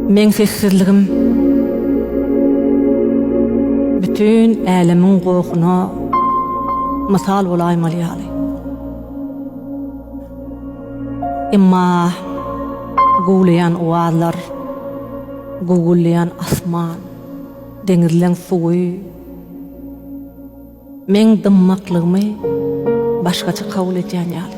Meň sessizligim bütin älemiň gohuna mysal bolaýmaly ýaly. Emma guwlaýan owazlar, gugullaýan asman, deňizleň suwy, Men dymmaklygymy başgaça kabul edýän ýaly.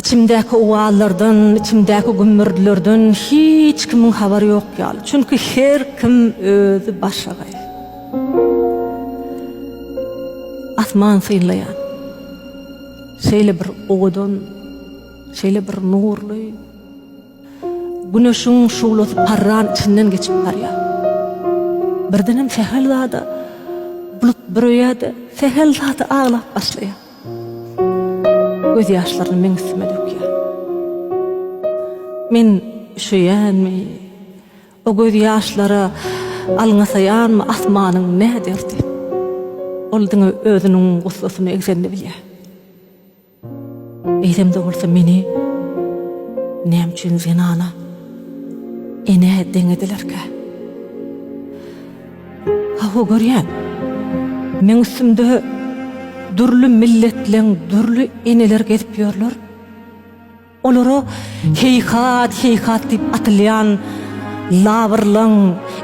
Içimdäki owazlardan, içimdäki gümmürdilerden hiç kimiň habary ýok ýaly. Çünki her kim özi başagaý. Asman synlaýan. Şeýle bir owadan, şeýle bir nurly, Güneşiň şuglasy parran içinden geçip barýar. Birdenem sähel zada bulut büreýär-de, sähel zada aglap başlaýar. Gözýaşlaryny meň üstüme dökýär. Men üşeýänmi, o gözýaşlara alňasaýanmy, asmanyň ne derdi? Ol diňe özüniň gussasyny egzenini bilýär. Eýsem-de bolsa meni näme üçin zenana, enä deňedilerkä? Hawa, görýän, meň üstümde dürli milletleň dürli eneleri gezip ýörler. Olara heýhat, heýhat diýip atylýan labyrlaň,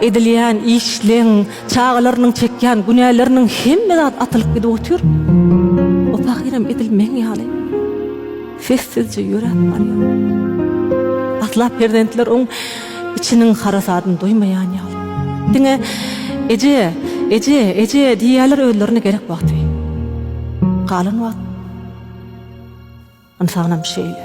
edilýän işleň, çagalarynyň çekýän günäleriniň hemme zat atylyp gidip otyr. O pahyram edil meň ýaly sessizje ýöräp barýar. Asla perzentler oň içiniň harasadyny duýmaýan ýaly. Diňe Eje, eje, eje diýýärler özlerine gerek wagty. Galan wagt. Ynsanam şeýle.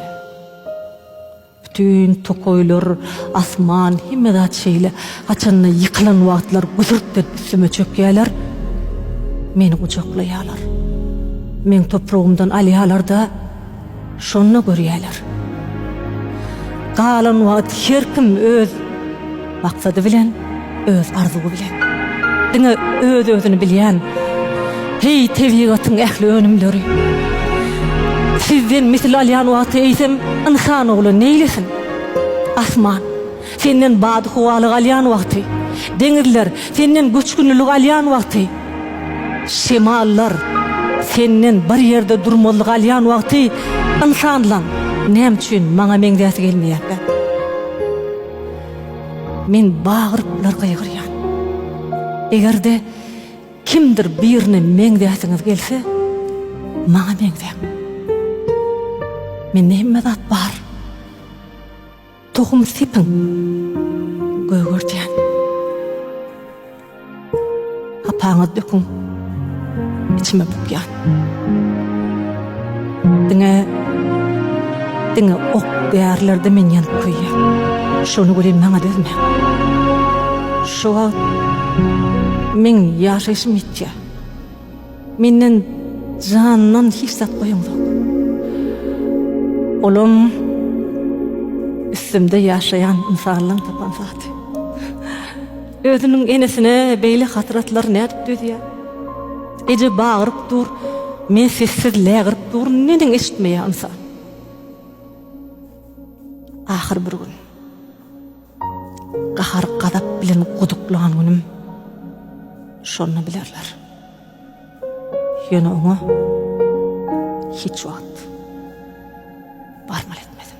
Bütin tokaýlar, asman, hemme zat şeýle. Haçanda ýykylan wagtlar güsürt berip üstüme çökýärler. Meni gujaklaýarlar. Meň topragymdan alýarlar-da, şonda görýärler. Galan wagt her kim öz. Maksady bilen, öz arzuwy bilen. Diňe öz-özüni bilýän, heý, tebigatyň ähli önümleri. Sizden misil alýan wagty eýsem, ynsan ogly neýlesin? Asman, senden bady-howalyk alýan wagty, deňizler, senden göçgünlilik alýan wagty, şemallar, senden bir ýerde durmazlyk alýan wagty, ynsanlaň, näme üçin maňa meňzäsi gelmeýärkä? Men bagyryplar gygyrýan. Eger-de kimdir birine meňzäsiňiz gelse, maňa meňzäň. Mende hemme zat bar. Tohum sepiň, gögertýän. Hapaňyz döküň. Içime bukýan. Diňe diňe ok därlerde men ýanyp köýýän. Şony welin maňa dözme. Şu wagt men ýaşaýşym ýitýär. Menden jandan hiç zat goýaňzok. Olam üstümde ýaşaýan insanlaryň tapan zaty. Özüniň enesine beýle hasratlary nädip dözýär? Eje bagyryp dur, men sessiz lägirip durun, neneň eşitmeýär ynsan? Ahyr bir gün, gahar-gazap bilen guduklan günüm, şonda bilerler. Ýöne oňa hiç wagt barmaly etmedim.